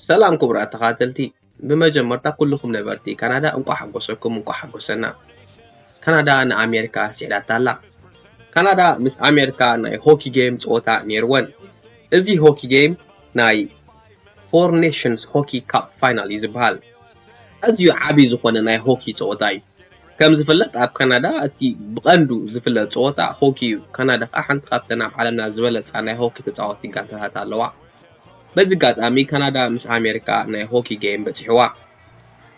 ሰላም ክቡራት ተኻተልቲ ብመጀመርታ ኩልኹም ነበርቲ ካናዳ እንቋዕ ሓጎሰኩም እንቋዕ ሓጎሰና ካናዳ ንኣሜሪካ ስዒዳታ ኣላ ካናዳ ምስ ኣሜሪካ ናይ ሆኪ ጌም ፀወታ ነይርወን እዚ ሆኪ ጌም ናይ ፎር ኔሽንስ ሆኪ ካፕ ፋይናል እዩ ዝበሃል ኣዝዩ ዓብዪ ዝኾነ ናይ ሆኪ ፀወታ እዩ ከም ዝፍለጥ ኣብ ካናዳ እቲ ብቐንዱ ዝፍለጥ ፀወታ ሆኪ እዩ ካናዳ ከዓ ሓንቲ ካብተን ኣብ ዓለምና ዝበለፃ ናይ ሆኪ ተፃወቲ ጋንታታት ኣለዋ በዚ ኣጋጣሚ ካናዳ ምስ ኣሜሪካ ናይ ሆኪ ጌም በጺሕዋ።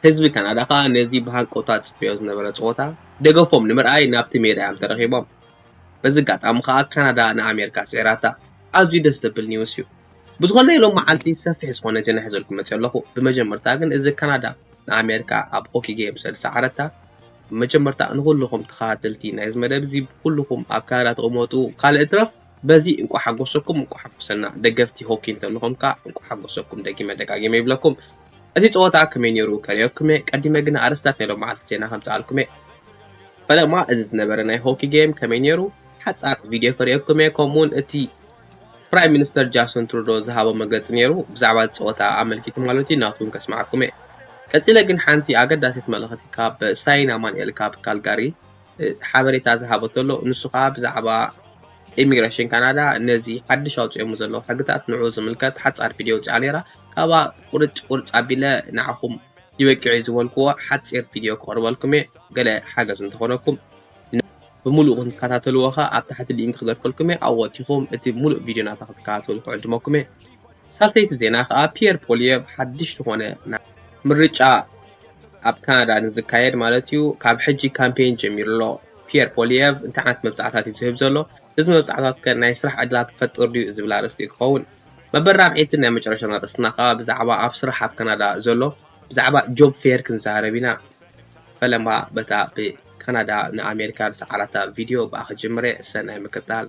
ህዝቢ ካናዳ ከኣ ነዚ ብሃንቀውታ ዝጽበዮ ዝነበረ ጸወታ ደገፎም ንምርኣይ ናብቲ ሜዳ እዮም ተረኺቦም። በዚ ኣጋጣሚ ከኣ ካናዳ ንኣሜሪካ ስዒራታ። ኣዝዩ ደስ ዘብል ኒውስ እዩ። ብዝኾነ ሎሚ መዓልቲ ሰፊሕ ዝኾነ ዜና ሒዘልኩም መጺ ኣለኹ። ብመጀመርታ ግን እዚ ካናዳ ንኣሜሪካ ኣብ ሆኪ ጌም ስለ ዝሰዓረታ ብመጀመርታ ንኹልኹም ተኸታተልቲ ናይዚ መደብ እዚ ኩልኹም ኣብ ካናዳ ትቕመጡ ካልእ ይትረፍ በዚ እንቋዕ ሓጎሰኩም እንቋዕ ሓጎሰና ደገፍቲ ሆኪ እንተለኹም ከኣ እንቋዕ ሓጎሰኩም ደጊመ ደጋጊመ ይብለኩም እቲ ጸወታ ከመይ ነይሩ ከርእየኩምየ ቀዲመ ግና ኣርእስታት ናይ ሎማዓልቲ ዜና ከምጽኣልኩምየ ፈለማ እዚ ዝነበረ ናይ ሆኪ ጌም ከመይ ነይሩ ሓጻር ቪድዮ ከርእየኩምየ ከምኡውን እቲ ፕራይም ሚኒስተር ጃሶን ትሩዶ ዝሃቦ መግለጺ ነይሩ ብዛዕባ እዚ ጸወታ ኣመልኪቱ ማለት እዩ ናቱ እውን ከስምዓኩምየ ቀጺለ ግን ሓንቲ ኣገዳሲት መልእኽቲ ካብ ሳይን ኣማንኤል ካብ ካልጋሪ ሓበሬታ ዝሃቦ ተሎ ንሱ ከኣ ብዛዕባ ኢሚግረሽን ካናዳ ነዚ ሓድሽ ኣውጽኦሞ ዘለዉ ሕግታት ንዑ ዝምልከት ሓጻር ቪድዮ ውጽኣ ነይራ ካብኣ ቁርጭ ቁርጭ ኣቢለ ንዓኹም ይበቅዕ እዩ ዝበልክዎ ሓጺር ቪድዮ ክቕርበልኩም እየ ገለ ሓገዝ እንተኾነኩም ብምሉእ ክንከታተልዎ ከኣ ኣብ ታሕቲ ሊንክ ክገድፈልኩም እየ ኣብኡ ወቲኹም እቲ ምሉእ ቪድዮ ናታ ክትከታተሉ ክዕድመኩም እየ ሳልሰይቲ ዜና ከኣ ፒየር ፖሊየቭ ሓድሽ ዝኾነ ናይ ምርጫ ኣብ ካናዳ ንዝካየድ ማለት እዩ ካብ ሕጂ ካምፔን ጀሚሩ ኣሎ። ፒየር ፖሊየቭ እንታይ ዓይነት መብጽዓታት እዩ ዝህብ ዘሎ? እዚ መብጽዓታት ከ ናይ ስራሕ ዕድላት ክፈጥር ድዩ ዝብል ኣርእስቲ እዩ ክኸውን። መበል ራብዐይትን ናይ መጨረሻን ኣርእስትና ከኣ ብዛዕባ ኣብ ስራሕ ኣብ ካናዳ ዘሎ ብዛዕባ ጆብ ፌር ክንዛረብ ኢና። ፈለማ በታ ብካናዳ ንኣሜሪካ ዝሰዓራታ ቪድዮ ብኣ ክጅምር እየ። ሰናይ ምክትታል።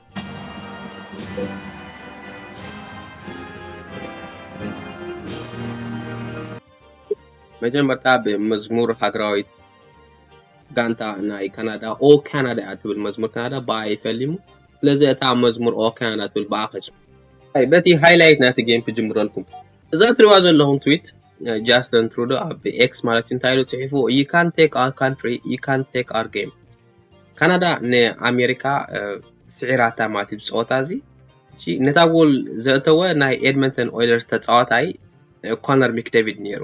መጀመርታ ብመዝሙር ሃገራዊት ጋንታ ናይ ካናዳ ኦ ካናዳ እያ ትብል መዝሙር ካናዳ ብኣ ይፈሊሙ ስለዚ እታ መዝሙር ኦ ካናዳ ትብል ብኣ ከጭ በቲ ሃይላይት ናቲ ጌም ክጅምረልኩም እዛ ትሪዋ ዘለኹም ትዊት ጃስትን ትሩዶ ኣብ ኤክስ ማለት እንታይ ኢሉ ጽሒፉ ዩ ካን ቴክ ኣር ካንትሪ ዩ ካን ቴክ ኣር ጌም ካናዳ ንኣሜሪካ ስዒራታ ማለት እዩ ፀወታ እዚ ነታ ጎል ዘእተወ ናይ ኤድመንተን ኦይለርስ ተፃዋታይ ኮነር ሚክደቪድ ነይሩ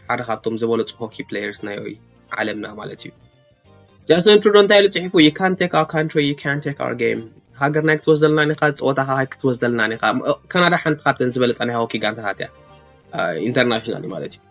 ሓደ ካብቶም ዝበለፁ ሆኪ ፕሌየርስ ናይ ዓለምና ማለት እዩ ጃስን ትሩዶ እንታይ ኢሉ ፅሒፉ ዩ ካን ቴክ ኣር ካንትሪ ዩ ካን ቴክ ኣር ጌም ሃገርና ክትወስደልና ኒኻ ፀወታኻ ክትወስደልና ኒኻ ካናዳ ሓንቲ ካብተን ዝበለፃ ናይ ሆኪ ጋንታታት እያ ኢንተርናሽናል ማለት እዩ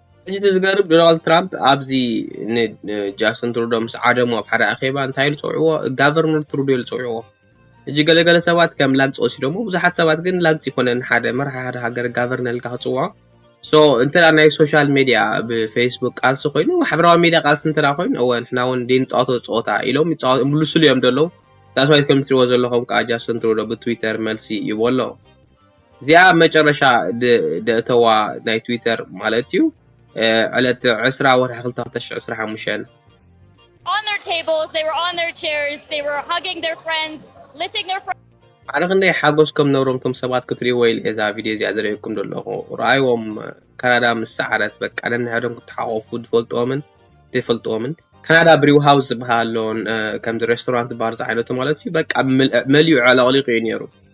ሕጂ እቲ ዝገርም ዶናልድ ትራምፕ ኣብዚ ንጃስትን ትሩዶ ምስ ዓደሙ ኣብ ሓደ ኣኼባ እንታይ ኢሉ ጸውዕዎ? ጋቨርነር ትሩዶ ኢሉ ጸውዕዎ። ሕጂ ገለ ገለ ሰባት ከም ላግጺ ወሲዶሞ፣ ብዙሓት ሰባት ግን ላግጺ ኣይኮነን ሓደ መራሒ ሓደ ሃገር ጋቨርነር ኢልካ ክትጽውዖ። ሶ እንተ ናይ ሶሻል ሜድያ ብፌስቡክ ቃልሲ ኮይኑ ማሕበራዊ ሜድያ ቃልሲ እንተ ኮይኑ እወ ንሕና እውን ዘይንጻወቶ ጸወታ ኢሎም ይምልሱሉ እዮም ዘለዉ። ዳትስ ዋይ ከም ትሪእዎ ዘለኹም ከኣ ጃስትን ትሩዶ ብትዊተር መልሲ ይቦ ኣሎ። እዚኣ ኣብ መጨረሻ ደእተዋ ናይ ትዊተር ማለት እዩ ዕለት ዕስራ ወርሒ ክልተ ክልተ ሽሕ ዕስራን ሓሙሽተን። on their tables, they were on their chairs, they were hugging their friends, lifting their friends. ኣረ ክንደይ ሓጎስ ከም ነብሮም ቶም ሰባት ክትሪእዎ ኢለ እየ እዛ ቪድዮ እዚኣ ዝርእየኩም ዘለኹ ረኣይዎም ካናዳ ምስ ሰዓረት በቃ ነንሕዶም ክተሓቆፉ ዝፈልጥዎምን ዘይፈልጥዎምን ካናዳ ብሪው ሃውስ ዝበሃል ኣሎ ከምዚ ሬስቶራንት ባር ዝዓይነቱ ማለት እዩ በቃ መሊኡ ዕለቕሊቑ እዩ ነይሩ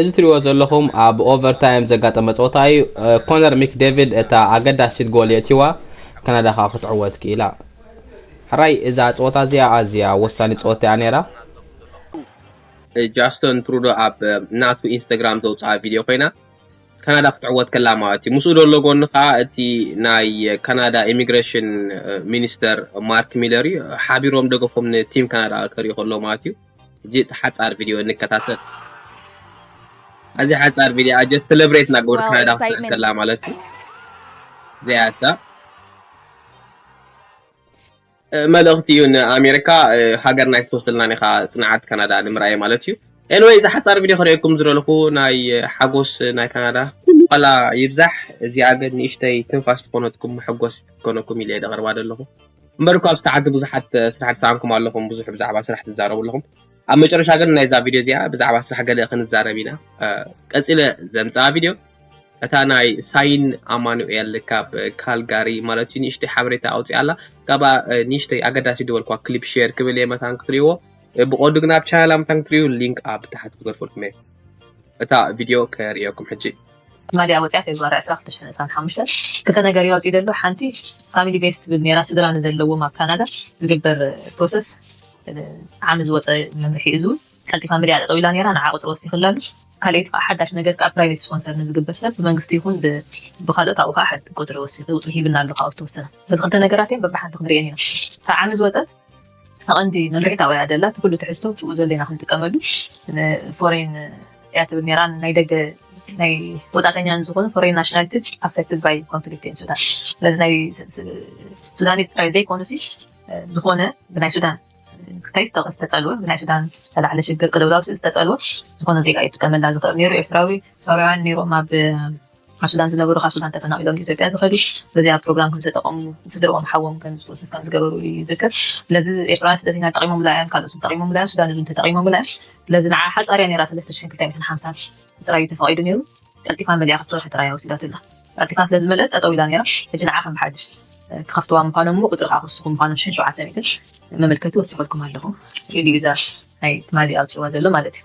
እዚ ትሪእዎ ዘለኹም ኣብ ኦቨርታይም ዘጋጠመ ጸወታ እዩ። ኮነር ሚክ ዴቪድ እታ ኣገዳሲት ጎል የእቲዋ፣ ካናዳ ከኣ ክትዕወት ክኢላ። ሕራይ እዛ ጸወታ እዚኣ ኣዝያ ወሳኒት ጸወታ እያ ነይራ። ጃስትን ትሩዶ ኣብ ናቱ ኢንስተግራም ዘውጽኣ ቪድዮ ኮይና፣ ካናዳ ክትዕወት ከላ ማለት እዩ። ምስኡ ዘሎ ጎኒ ከኣ እቲ ናይ ካናዳ ኢሚግረሽን ሚኒስተር ማርክ ሚለር እዩ። ሓቢሮም ደገፎም ንቲም ካናዳ ከርእዩ ከለዉ ማለት እዩ። ሕጂ እቲ ሓጻር ቪድዮ እንከታተል ኣዚ ሓጻር ቪድዮ ኣጀ ሰለብሬት ናግበር ካናዳ ክትስዕብ ከላ ማለት እዩ እዚኣ እሳ መልእኽቲ እዩ ንኣሜሪካ ሃገርና ይትወስደልናን ኢኻ ጽንዓት ካናዳ ንምርኣይ ማለት እዩ ኤንወይ እዚ ሓጻር ቪድዮ ክርእየኩም ዝደለኹ ናይ ሓጎስ ናይ ካናዳ ኩሉ ቃላ ይብዛሕ እዚኣ ግን ንእሽተይ ትንፋስ ትኾነትኩም መሐጎስ ትኮነኩም ኢለ ደቕርባ ደለኹ እምበር እኳ ኣብዚ ሰዓት ብዙሓት ስራሕ ትሰኣንኩም ኣለኹም ብዙሕ ብዛዕባ ስራሕ ትዛረቡ ኣለኹም ኣብ መጨረሻ ግን ናይዛ ቪድዮ እዚኣ ብዛዕባ ስራሕ ገለ ክንዛረብ ኢና ቀፂለ ዘምፅኣ ቪድዮ እታ ናይ ሳይን ኣማኑኤል ካብ ካልጋሪ ማለት እዩ ንእሽተይ ሓበሬታ ኣውፅኣ ኣላ ካብኣ ንእሽተይ ኣገዳሲ ዝበልኳ ክሊፕ ሼር ክብል እየ መታን ክትሪእዎ ብቆዱ ግን ኣብ ቻናላ መታን ክትሪኡ ሊንክ ኣብ ታሕቲ ክገድፈልኩም እየ እታ ቪድዮ ከርእየኩም ሕጂ ማልያ ወፅያ ፌብርዋሪ ዕስራ ክልተ ሽሕን ዕስራን ሓሙሽተን ክልተ ነገር እዩ ኣውፂኡ ዘሎ ሓንቲ ፋሚሊ ቤስ ትብል ነይራ ስድራ ንዘለዎም ኣብ ካናዳ ዝግበር ፕሮሰስ ዓሚ ዝወፀ መምርሒ እዩ ዝውን ቀልጢፋ ምልያ ጠጠው ኢላ ነይራ ንዓ ቁፅሪ ወሲኽላ ኣሎ ካልኣይቲ ከዓ ሓዳሽ ነገር ከዓ ፕራይቬት ስፖንሰር ንዝግበር ሰብ ብመንግስቲ ይኹን ብካልኦት ኣብኡ ከዓ ቁፅሪ ወሲኽ ውፅእ ሂብና ኣሎ ካብኡ ዝተወሰነ በዚ ክልተ ነገራት እዮም በብሓንቲ ክንሪኤን ኢና ካብ ዓሚ ዝወፀት ተቐንዲ መምርሒት ኣብኡ እያ ዘላ። እቲ ኩሉ ትሕዝቶ ኣብኡ ዘሎ ኢና ክንጥቀመሉ። ንፎሬን እያ ትብል ነይራ፣ ንናይ ደገ ናይ ወጻእተኛ ንዝኾኑ ፎሬን ናሽናሊቲስ ኣፌክትድ ባይ ኮንፍሊክት ኢን ሱዳን። ስለዚ ናይ ሱዳኒዝ ጥራይ ዘይኮኑሲ ዝኾነ ብናይ ሱዳን ክስታይ ዝተጸልወ ብናይ ሱዳን ዝተላዕለ ሽግር ቅልውላው ዝተጸልወ ዝኾነ ዜጋ እዩ ዝጥቀመላ ዝኽእል ነይሩ። ኤርትራዊ ሶርያውያን ነይሮም ኣብ ኣብ ሱዳን ዝነበሩ ካብ ሱዳን ተፈናቒሎም ንኢትዮጵያ ዝኸዱ በዚ ኣብ ፕሮግራም ከምዝተጠቐሙ ስድርኦም ሓዎም ከምዝጥብሱስ ከምዝገበሩ እዩ ይዝክር። ስለዚ ኤርትራውያን ስደተኛታት ጠቒሞምላ እዮም፣ ካልኦት ተጠቒሞምላ እዮም፣ ሱዳን እውን ተጠቒሞምላ እዮም። ስለዚ ንዓ ሓጻር እያ ነይራ ሰለስተ ሽሕን ክልተ ሚእትን ሓምሳን ጥራይ እዩ ተፈቒዱ ነይሩ። ቀልጢፋ መሊኣ ክልተ ወርሒ ጥራይ እያ ወሲዳትላ። ቀልጢፋ ስለዝመልአት ጠጠው ኢላ ነይራ። ሕጂ ንዓ ከም ብሓድሽ ክኸፍትዋ ምዃኖም እሞ ቁጽሪ ከኣ ክውስኹ ምዃኖም ሽሕን ሸውዓተ ሚእትን መመልከቲ ወሲኸልኩም ኣለኹ ኢሉ እዩ እዛ ናይ ትማሊ ኣውጺእዋ ዘሎ ማለት እዩ።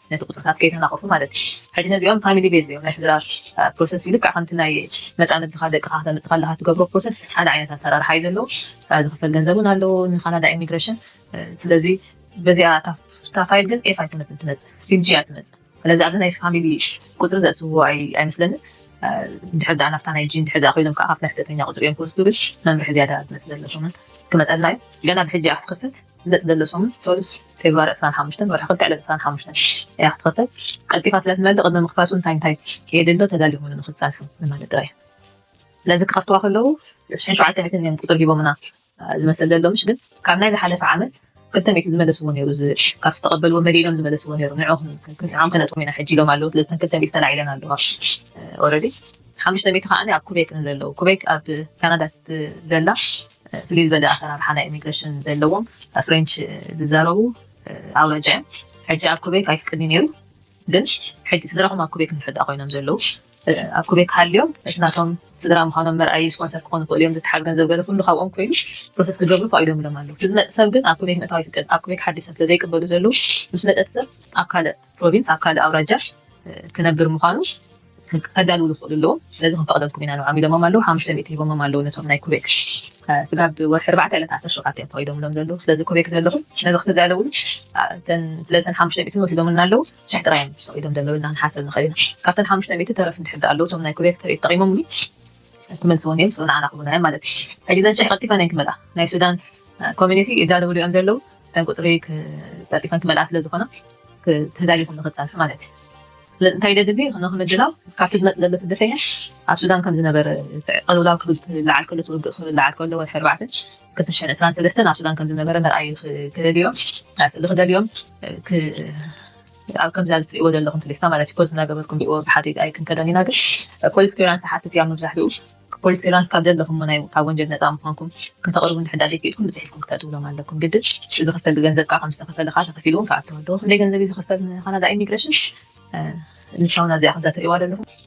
ነቲ ቁጽርታት ከይተናቆፉ ማለት እዩ ሕጂ ነዚኦም ፋሚሊ ቤዝድ እዮም ናይ ስድራ ፕሮሰስ ልክዕ ከምቲ ናይ መጻምድትኻ ደቅኻ ክተምጽእ ከለኻ ትገብሮ ፕሮሰስ ሓደ ዓይነት ኣሰራርሓ እዩ ዘለዎ ዝኽፈል ገንዘብ ውን ኣለዎ ንካናዳ ኢሚግረሽን ስለዚ በዚኣ እታ ፋይል ግን ኤፍ ኣይትመጽን ትመጽእ ስቲም ጂ እያ ትመጽእ ስለዚ ኣብዚ ናይ ፋሚሊ ቁጽሪ ዘእትውዎ ኣይመስለንን ድሕር ድኣ ናፍታ ናይ ጂን ድሕር ድኣ ኮይኖም ከዓ ካብቲ ናይ ስደተኛ ቁፅሪ እዮም ክወስዱ ግን መምርሒ ዝያዳ ዝመስለለኹምን ክመፀልና እዩ ገና ብሕጂ ኣፍ ክፍት መጽ ደሎ ሰሙን ሰሉስ ፌብርዋሪ ዕስራን ሓሙሽተን ወርሒ ክልተ ዕለት ዕስራን ሓሙሽተን እያ ክትኸፈት ቀልጢፋ ስለ ትመልእ ቅድሚ ምኽፋቱ እንታይ እንታይ የድሎ ተዳሊኹም ንኽትጸንሑ ንማለት ጥራይ ስለዚ ክኸፍትዋ ከለዉ ሽሕን ሸውዓተ ሚእትን እዮም ቁጽሪ ሂቦምና ዝመስል ደሎ ምሽ ግን ካብ ናይ ዝሓለፈ ዓመት ክልተ ሚእቲ ዝመለስዎ ነይሩ ካብ ዝተቐበልዎ መሊ ኢሎም ዝመለስዎ ነይሩ ንዕኦም ከነጥም ኢና ሕጂ ኢሎም ኣለዉ ስለዚ ክልተ ሚእቲ ተላዒለን ኣለዋ ኦረዲ ሓሙሽተ ሚእቲ ከዓኒ ኣብ ኩቤክ ንዘለዉ ኩቤክ ኣብ ካናዳ ዘላ ፍልይ ዝበለ ኣሰራርሓ ናይ ኢሚግረሽን ዘለዎም ፍሬንች ዝዛረቡ ኣውራጃ እዮም። ሕጂ ኣብ ኩቤክ ኣይፍቅድን ነይሩ ግን ሕጂ ስድራኹም ኣብ ኩቤክ እንድሕር ኮይኖም ዘለዉ ኣብ ኩቤክ ሃልዮም እቲ ናቶም ስድራ ምዃኖም መርኣይ ስፖንሰር ክኾኑ ክእሉ እዮም ዝትሓዝ ገንዘብ ገለ ኩሉ ካብኦም ኮይኑ ፕሮሰስ ክገብሩ ፈቒዶም ኢሎም ኣለዉ እቲ ዝመፅ ሰብ ግን ኣብ ኩቤክ ምእታው ይፍቀድ ኣብ ኩቤክ ሓዲሶም ስለዘይቅበሉ ዘለዉ ምስ መፀ እቲ ሰብ ኣብ ካልእ ፕሮቪንስ ኣብ ካልእ ኣውራጃ ክነብር ምዃኑ ከዳልውሉ ክኽእሉ ኣለዎም ስለዚ ክንፈቕደልኩም ኢና ንብዓም ኢሎሞም ኣለዉ ሓሙሽተ ሚእቲ ሂቦሞም ኣለዉ ነቶም ናይ ኩቤክ ስጋብ ወርሒ ኣርባዕተ ዕለት ዓሰርተ ሸውዓተ እዮም ፈቒዶምሎም ዘለዉ ስለዚ ኩቤክ ዘለኹም ነዚ ክትዳለውሉ ስለዚ ተን ሓሙሽተ ሚእቲ ወሲዶምልና ኣለዉ ሽሕ ጥራይ እዮም ፈቒዶም ዘለዉ ኢልና ክንሓሰብ ንኽእል ኢና ካብተን ሓሙሽተ ሚእቲ ተረፍ እንድሕር ኣለዉ እቶም ናይ ኩቤክ ትርኢት ጠቒሞምሉ ክመልስዎ እንድዮም ዝፅእኑ ንዓና ክብሉና እዮም ማለት እዩ። ሕጂ እዘን ሽሕ ቀልጢፈን እየን ክመልኣ ናይ ሱዳን ኮሚኒቲ ይዳለውሉ እዮም ዘለዉ እተን ቁፅሪ ቀልጢፈን ክመልኣ ስለ ዝኾና ተዳሊኹም ንኽፃንሑ ማለት እዩ። እንታይ ደድሊ ንኽምድላው ካብቲ ዝመፅእ ዘሎ ስደተኛ ኣብ ሱዳን ከም ዝነበረ ቅልውላው ክልዓል ከሎ ውግእ ክልዓል ከሎ ወርሒ ኣርባዕተ ክልተ ሽሕን ዕስራን ሰለስተን ኣብ ሱዳን ከም ዝነበረ መርኣዩ ክደልዮም ክደልዮም ኣብ ከምዛ ዝትሪእዎ ዘለኹም ትሪስታ ማለት እዩ ፖዝ እናገበርኩም ሪእዎ ብሓደ ኢድ ኣይትንከዶን ኢና ግን ፖሊስ ክሊራንስ ዝሓትት እዩ ኣብ መብዛሕትኡ ፖሊስ ክሊራንስ ካብ ዘለኹሞ ናይ ካብ ወንጀል ነፃ ምዃንኩም ከተቕርቡ እንድሕዳእ ዘይክኢልኩም ብፅሒት ኢልኩም ክተእትውሎም ኣለኩም ግድን ዝኽፈል ብገንዘብ ከዓ ከምዝተኸፈለ ከዓ ተኸፊሉ እውን ክኣቱ ኣለዎ ክንደይ ገንዘብ እዩ ዝኽፈል ንካናዳ ኢሚግሬሽን ንሳውን ኣብዚኣ ከምዛ ትሪእዋ ዘለኹም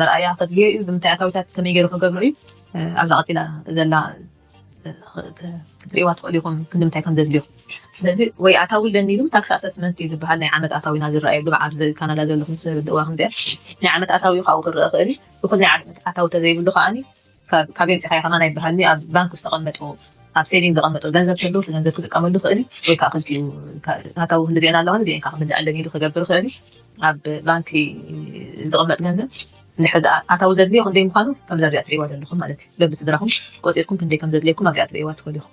መርኣያ ከድልዮ እዩ ብምንታይ ኣታዊታት ከመይ ገይሩ ክገብሮ እዩ ኣብዛ ቀፂላ ዘላ ክትሪእዋ ትኽእሉ ኢኹም ክንምንታይ ከም ዘድልዮ ስለዚ ወይ ኣታዊ ኣለኒ ኢሉ ታክሲ ኣሰስመንት እዩ ዝበሃል ናይ ዓመት ኣታዊና ዝረኣየሉ በዓል ካናዳ ዘለኹም ስርድእዋ ከምዚኣ ናይ ዓመት ኣታዊ ካብኡ ክረአ ክእል እዩ እኹል ናይ ዓመት ኣታዊ ተዘይብሉ ከዓኒ ካበይ ኣምጺኻ ኢኻ ከማና ይበሃል ድዩ ኣብ ባንክ ዝተቀመጡ ኣብ ሴቪንግ ዘቀመጡ ገንዘብ ከለዉ እቲ ገንዘብ ክጥቀመሉ ይኽእል እዩ ወይ ከኣ ክልቲኡ ኣታዊ ክንድዚኤን ኣለዋ ንዚኤን ከኣ ክምልኣለን ኢሉ ክገብር ይኽእል እዩ ኣብ ባንኪ ዝቅመጥ ገንዘብ ድሕሪ ደኣ ኣታዊ ዘድልዮ ክንደይ ምዃኑ ከምዛ እዚኣ ትርእይዋ ዘለኹም ማለት እዩ በብስድራኹም ቆጺርኩም ክንደይ ከም ዘድልየኩም ኣብዚኣ ትርእይዋ ትኽእሉ ኢኹም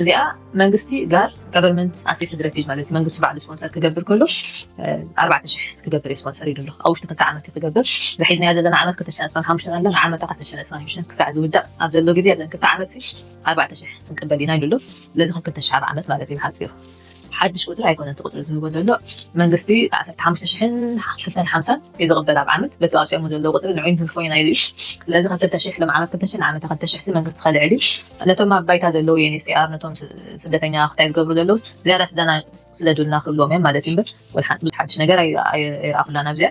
እዚኣ መንግስቲ ጋር government assisted refuge ማለት መንግስቲ ባዕሉ ስፖንሰር ክገብር ከሎ ኣርባዕተ ሽሕ ክገብር እዩ ስፖንሰር ኢሉ ኣሎ ኣብ ውሽጢ ክልተ ዓመት ክገብር ዝሒዝናዮ ዘለና ዓመት ክልተ ሽሕን ዕስራን ሓሙሽተን ኣላ ንዓመታ ክልተ ሽሕን ዕስራን ሓሙሽተን ክሳዕ ዝውዳእ ኣብ ዘሎ ግዜ ኣብዘን ክልተ ዓመት ኣርባዕተ ሽሕ ክንቅበል ኢና ኢሉ ኣሎ ስለዚ ከም ክልተ ሽሕ ኣብ ዓመት ማለት እዩ ብሓፂሩ ሓድሽ ቁጽሪ ኣይኮነን እቲ ቁጽሪ ዝህቦ ዘሎ መንግስቲ ዓሰርተ ሓሙሽተ ሽሕን ክልተን ሓምሳን እዩ ዝቅበል ኣብ ዓመት በቲ ኣውጺኦሞ ዘለው ቁጽሪ ንዑይ ንትንክፎ ኢና ኢሉ እዩ ስለዚ ክልተ ሽሕ ሎም ዓመት ክልተ ሽሕ ንዓመተ ክልተ ሽሕ ሲ መንግስቲ ከልዕል እዩ ነቶም ኣብ ባይታ ዘለው UNHCR ነቶም ስደተኛ ክታይ ዝገብሩ ዘለውስ ዝያዳ ስደና ስደዱልና ክብልዎም እዮም ማለት እዩ እምበር ወልሓንቲ ሓድሽ ነገር ኣይረኣኩላን ኣብዚኣ።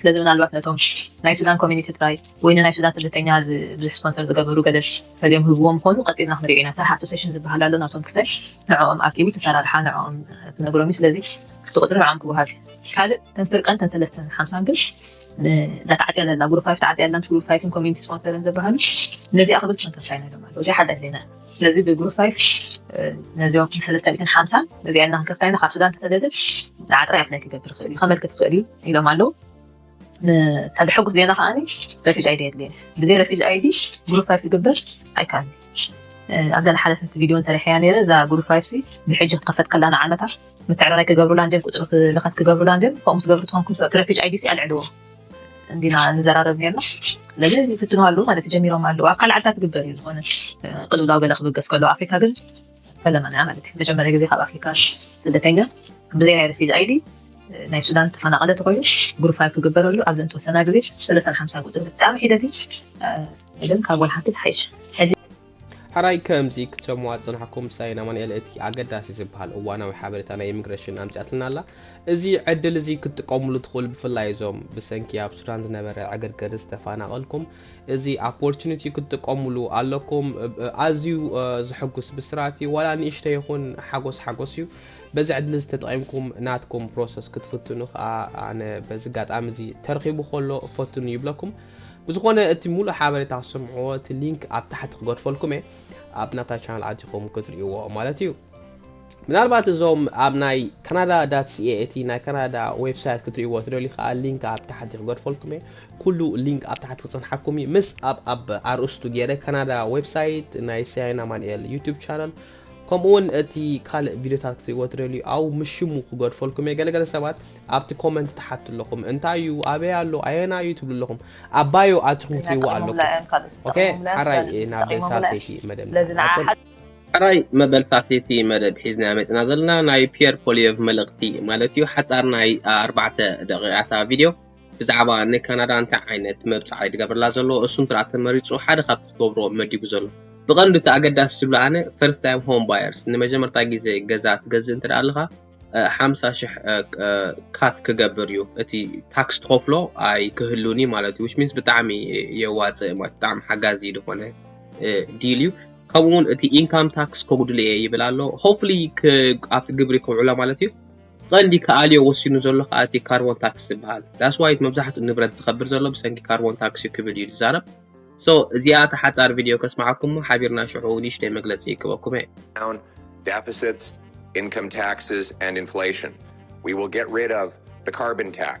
ስለዚ ምናልባት ነቶም ናይ ሱዳን ኮሚኒቲ ጥራይ ወይ ንናይ ሱዳን ስደተኛ ብዙሕ ስፖንሰር ዝገበሩ ገለ ፈሊዮም ህብዎም ምኾኑ ቀጺልና ክንሪኦ ኢና ሳህ ኣሶሴሽን ዝብሃል ኣሎ ናቶም ክሰል ንዕኦም ኣኪቡ እቲ ኣሰራርሓ ንዕኦም ክነግሮም እዩ ስለዚ እቲ ቁጽሪ ንዕኦም ክወሃብ ካልእ ተን ፍርቀን ተን ሰለስተን ሓምሳን ግን ንዛ ተዓጽያ ዘላ ጉሩፕ ፋይፍ ተዓጽያ ኣላ ምስ ጉሩፕ ፋይፍን ኮሚኒቲ ስፖንሰርን ዝበሃሉ ነዚኣ ክብል ተሰንከፍካ ኢና ኢሎም ኣለዉ እዚ ሓዳሽ ዜና እዩ ስለዚ ብግሩፕ ፋይቭ ነዚኦም ሰለስተ ሚእትን ሓምሳን እዚኣን እናንከፍካይና ካብ ሱዳን ተሰደድን ንዓ ጥራይ ኣፕላይ ክገብር ይኽእል እዩ ከመልክት ይኽእል እዩ ኢሎም ኣለዉ እታ ብሕጉስ ዜና ከዓ ረፊጅ ኣይዲ የድልየ ብዘይ ረፊጅ ኣይዲ ግሩፕ ፋይቭ ክግበር ኣይከኣልን ኣብዛ ዝሓለፈት ቪድዮን ሰሪሐያ ነይረ እዛ ግሩፕ ፋይቭ ሲ ብሕጂ ክኸፈት ከላ ንዓመታ ምትዕርራይ ክገብሩላ እንድዮም ቁፅሪ ልኸት ክገብሩላ እንድዮም ከምኡ ትገብሩ ትኾንኩም ሰብ ትረፊጅ ኣይዲ ሲ ኣልዕልዎ እንዲና ንዘራረብ ኔርና ስለዚ ይፍትኑ ኣለዉ ማለት ጀሚሮም ኣለዉ ኣብ ካልእ ዓድታት ይግበር እዩ ዝኾነ ቅልውላው ገለ ክብገስ ከሎ ኣፍሪካ ግን ፈለማና እያ ማለት እዩ መጀመርያ ግዜ ካብ ኣፍሪካ ስደተኛ ብዘይ ናይ ረፊጅ ኣይዲ ናይ ሱዳን ተፈናቐለ ተኮይኑ ግሩፋይ ክግበረሉ ኣብዚ እንተወሰና ግዜ ሰለሳን ሓምሳን ቁፅሪ ብጣዕሚ ሒደት እዩ ግን ካብ ወልሓንቲ ዝሓይሽ ሕራይ ከምዚ ክትሰምዋ ዝጽናሕኩም ሳይን ኣማንኤል እቲ ኣገዳሲ ዝበሃል እዋናዊ ሓበሬታ ናይ ኢሚግሬሽን ኣምጽኣትልና ኣላ እዚ ዕድል እዚ ክትጥቀምሉ ትኽእሉ ብፍላይ እዞም ብሰንኪ ኣብ ሱዳን ዝነበረ ዕግርግር ዝተፈናቐልኩም እዚ ኣፖርቹኒቲ ክትጥቀምሉ ኣለኩም ኣዝዩ ዝሕጉስ ብስራት እዩ ዋላ ንእሽተ ይኹን ሓጎስ ሓጎስ እዩ በዚ ዕድል እዚ ተጠቒምኩም ናትኩም ፕሮሰስ ክትፍትኑ ከዓ ኣነ በዚ ኣጋጣሚ እዚ ተረኺቡ ከሎ ፈትኑ ይብለኩም ብዝኾነ እቲ ሙሉእ ሓበሬታ ክትሰምዕዎ እቲ ሊንክ ኣብ ታሕቲ ክገድፈልኩም እየ ኣብ ናታ ቻናል ኣቲኹም ክትርእይዎ ማለት እዩ ምናልባት እዞም ኣብ ናይ ካናዳ ዳት ሲኤ እቲ ናይ ካናዳ ዌብሳይት ክትርእይዎ ትደልዩ ከዓ ሊንክ ኣብ ታሕቲ ክገድፈልኩም እየ ኩሉ ሊንክ ኣብ ታሕቲ ክፅንሓኩም እዩ ምስ ኣብ ኣብ ኣርእስቱ ገይረ ካናዳ ዌብሳይት ናይ ሲያይና ማንኤል ዩቱብ ቻናል ከምኡ ውን እቲ ካልእ ቪድዮታት ክትርእይዎ ትደልዩ ኣው ምስ ሽሙ ክገድፈልኩም እየ ገለ ገለ ሰባት ኣብቲ ኮመንት ትሓቱ ኣለኹም እንታይ እዩ ኣበይ ኣሎ ኣየና እዩ ትብሉ ኣለኹም ኣብ ባዮ ኣትኹም ክትርእይዎ ኣለኩም ኦኬ ሓራይ ናብ ሳሴቲ መደብ ንዓጽር ሕራይ መበል ሳሴቲ መደብ ሒዝና መጽና ዘለና ናይ ፒየር ፖሊየቭ መልእኽቲ ማለት እዩ ሓጻር ናይ ኣርባዕተ ደቂቃታ ቪድዮ ብዛዕባ ንካናዳ እንታይ ዓይነት መብጽዓ እዩ ዝገብረላ ዘሎ እሱ እንተ ተመሪጹ ሓደ ካብቲ ክገብሮ መዲቡ ዘሎ ብቐንዱ እቲ ኣገዳሲ ዝብሎ ኣነ ፈርስት ታይም ሆም ባየርስ ንመጀመርታ ግዜ ገዛ ትገዝእ እንተ ኣለኻ ሓምሳ ሽሕ ካት ክገብር እዩ እቲ ታክስ ትኸፍሎ ኣይክህሉን እዩ ማለት እዩ ዊች ሚንስ ብጣዕሚ የዋፅእ ማለት ብጣዕሚ ሓጋዚ ዝኾነ ዲል እዩ ከምኡውን እቲ ኢንካም ታክስ ከጉድሉ እየ ይብል ኣሎ ሆፕሊ ኣብቲ ግብሪ ከውዕሎ ማለት እዩ ቐንዲ ክኣልዮ ወሲኑ ዘሎ ከኣ እቲ ካርቦን ታክስ ዝበሃል That's why እቲ መብዛሕትኡ ንብረት ዝኸብር ዘሎ ብሰንኪ ካርቦን ታክስ እዩ ክብል እዩ ዝዛረብ So እዚኣ እታ ሓጻር ቪድዮ ከስምዓኩም እሞ ሓቢርና ሽዑ ንእሽተይ መግለጺ ይእክበኩም እየ። down deficits, income taxes and inflation. We will get rid of the carbon tax.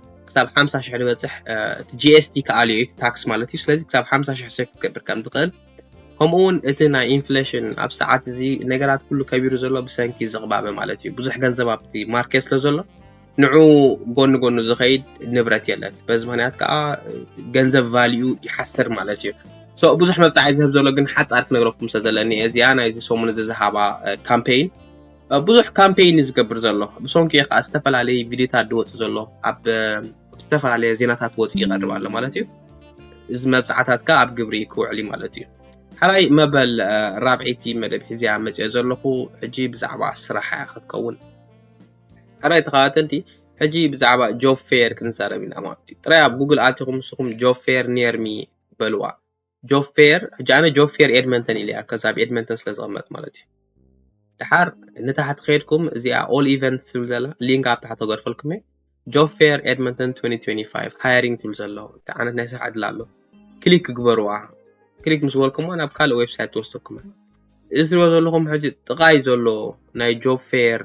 ክሳብ ሓምሳ ሽሕ ዝበፅሕ እቲ ጂኤስቲ ክኣልዮ እዩ ታክስ ማለት እዩ ስለዚ ክሳብ ሓምሳ ሽሕ ሰብ ክትገብር ከም ትኽእል ከምኡ እውን እቲ ናይ ኢንፍሌሽን ኣብ ሰዓት እዚ ነገራት ኩሉ ከቢሩ ዘሎ ብሰንኪ ዝቕባበ ማለት እዩ ብዙሕ ገንዘብ ኣብቲ ማርኬት ስለ ዘሎ ንዑ ጎኒ ጎኑ ዝኸይድ ንብረት የለን በዚ ምክንያት ከዓ ገንዘብ ቫልዩ ይሓስር ማለት እዩ ሶ ብዙሕ መብፃዕ ዝህብ ዘሎ ግን ሓፃር ክነግረኩም ስለ ዘለኒ እዚኣ ናይዚ ሰሙን እዚ ዝሃባ ካምፔይን ብዙሕ ካምፔይን እዩ ዝገብር ዘሎ ብሶንኪ ከኣ ዝተፈላለየ ቪድዮታት ዝወጽእ ዘሎ ኣብ ዝተፈላለየ ዜናታት ወጽ ይቀርብ ኣሎ ማለት እዩ እዚ መብጽዓታት ከኣ ኣብ ግብሪ ክውዕል እዩ ማለት እዩ ሓራይ መበል ራብዒቲ መደብ ሒዝያ መጽኦ ዘለኹ ሕጂ ብዛዕባ ስራሕ እያ ክትከውን ሓራይ ተኸታተልቲ ሕጂ ብዛዕባ ጆብ ፌር ክንዛረብ ኢና ማለት እዩ ጥራይ ኣብ ጉግል ኣቲኹም ንስኹም ጆብ ፌር ኒርሚ በልዋ ጆብ ፌር ሕጂ ኣነ ጆብ ፌር ኤድመንተን ኢለያ ከዛ ኣብ ኤድመንተን ስለ ዝቕመጥ ማለት እዩ ድሓር ንታሕቲ ከይድኩም እዚኣ ኦል ኢቨንትስ ትብል ዘላ ሊንክ ኣብ ታሕቲ ገድፈልኩም እየ ጆብ ፌር ኤድመንተን 2025 ሃይሪንግ ትብል ዘሎ እቲ ዓይነት ናይ ስራሕ ዕድል ኣሎ ክሊክ ግበርዋ ክሊክ ምስ በልኩሞ ናብ ካልእ ዌብሳይት ትወስደኩም እዚ ትሪኦ ዘለኹም ሕጂ ጥቓይ ዘሎ ናይ ጆብ ፌር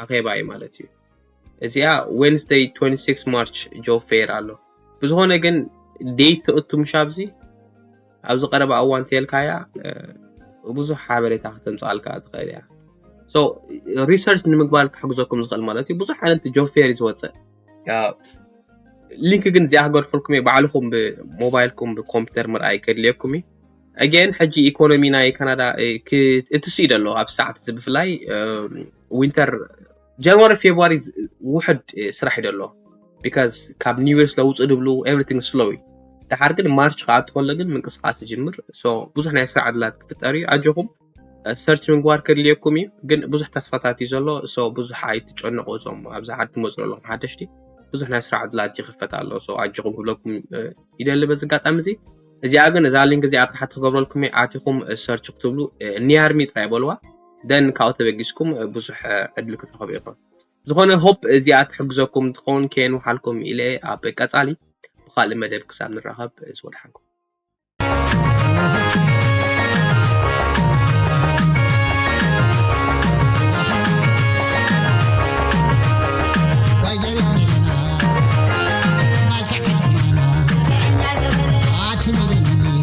ኣኼባ እዩ ማለት እዩ እዚኣ ዌንስደይ 26 ማርች ጆብ ፌር ኣሎ ብዝኾነ ግን ዴት ተእቱ ምሽ ኣብዚ ኣብዚ ቀረባ እዋን ተልካያ ብዙሕ ሓበሬታ ከተምፅኣልካ ትኽእል እያ ሶ ሪሰርች ንምግባር ክሕግዘኩም ዝኽእል ማለት እዩ ብዙሕ ዓይነት ጆብ ፌር እዩ ዝወፅእ ሊንክ ግን እዚኣ ክገድፈልኩም እየ ባዕልኹም ብሞባይልኩም ብኮምፒተር ምርኣይ ከድልየኩም እዩ ኣገን ሕጂ ኢኮኖሚ ናይ ካናዳ እቲ ስኢደ ኣሎ ኣብ ሰዓት እዚ ብፍላይ ዊንተር ጃንዋሪ ፌብሪ ውሕድ ስራሕ እዩ ደሎ ቢካዝ ካብ ኒው ይር ስለውፅእ ድብሉ ኤቭሪቲንግ ስሎ እዩ ድሓር ግን ማርች ከዓ እትኸሎ ግን ምንቅስቃስ ይጅምር ሶ ብዙሕ ናይ ስራሕ ዕድላት ክፍጠር እዩ ኣጆኹም ሰርች ምግባር ከድልየኩም እዩ ግን ብዙሕ ተስፋታት እዩ ዘሎ ሶ ብዙሕ ኣይትጨነቁ እዞም ኣብዚ ሓድ ትመፅኡ ኣለኹም ሓደሽቲ ብዙሕ ናይ ስራሕ ዕድላት ይኽፈት ኣሎ ሶ ኣጆኹም ክብለኩም ይደሊ በዚ ኣጋጣሚ እዚ እዚኣ ግን እዛ ሊንክ እዚኣ ኣብ ታሕቲ ክገብረልኩም ኣቲኹም ሰርች ክትብሉ ኒያርሚ ጥራይ በልዋ ደን ካብኡ ተበጊስኩም ብዙሕ ዕድል ክትረኽቡ ኢኹም። ዝኾነ ሆፕ እዚኣ ትሕግዘኩም ትኸውን ከየንውሓልኩም ኢለ ኣብ ቀጻሊ ብኻልእ መደብ ክሳብ ንራኸብ እዝ ወድሓንኩም።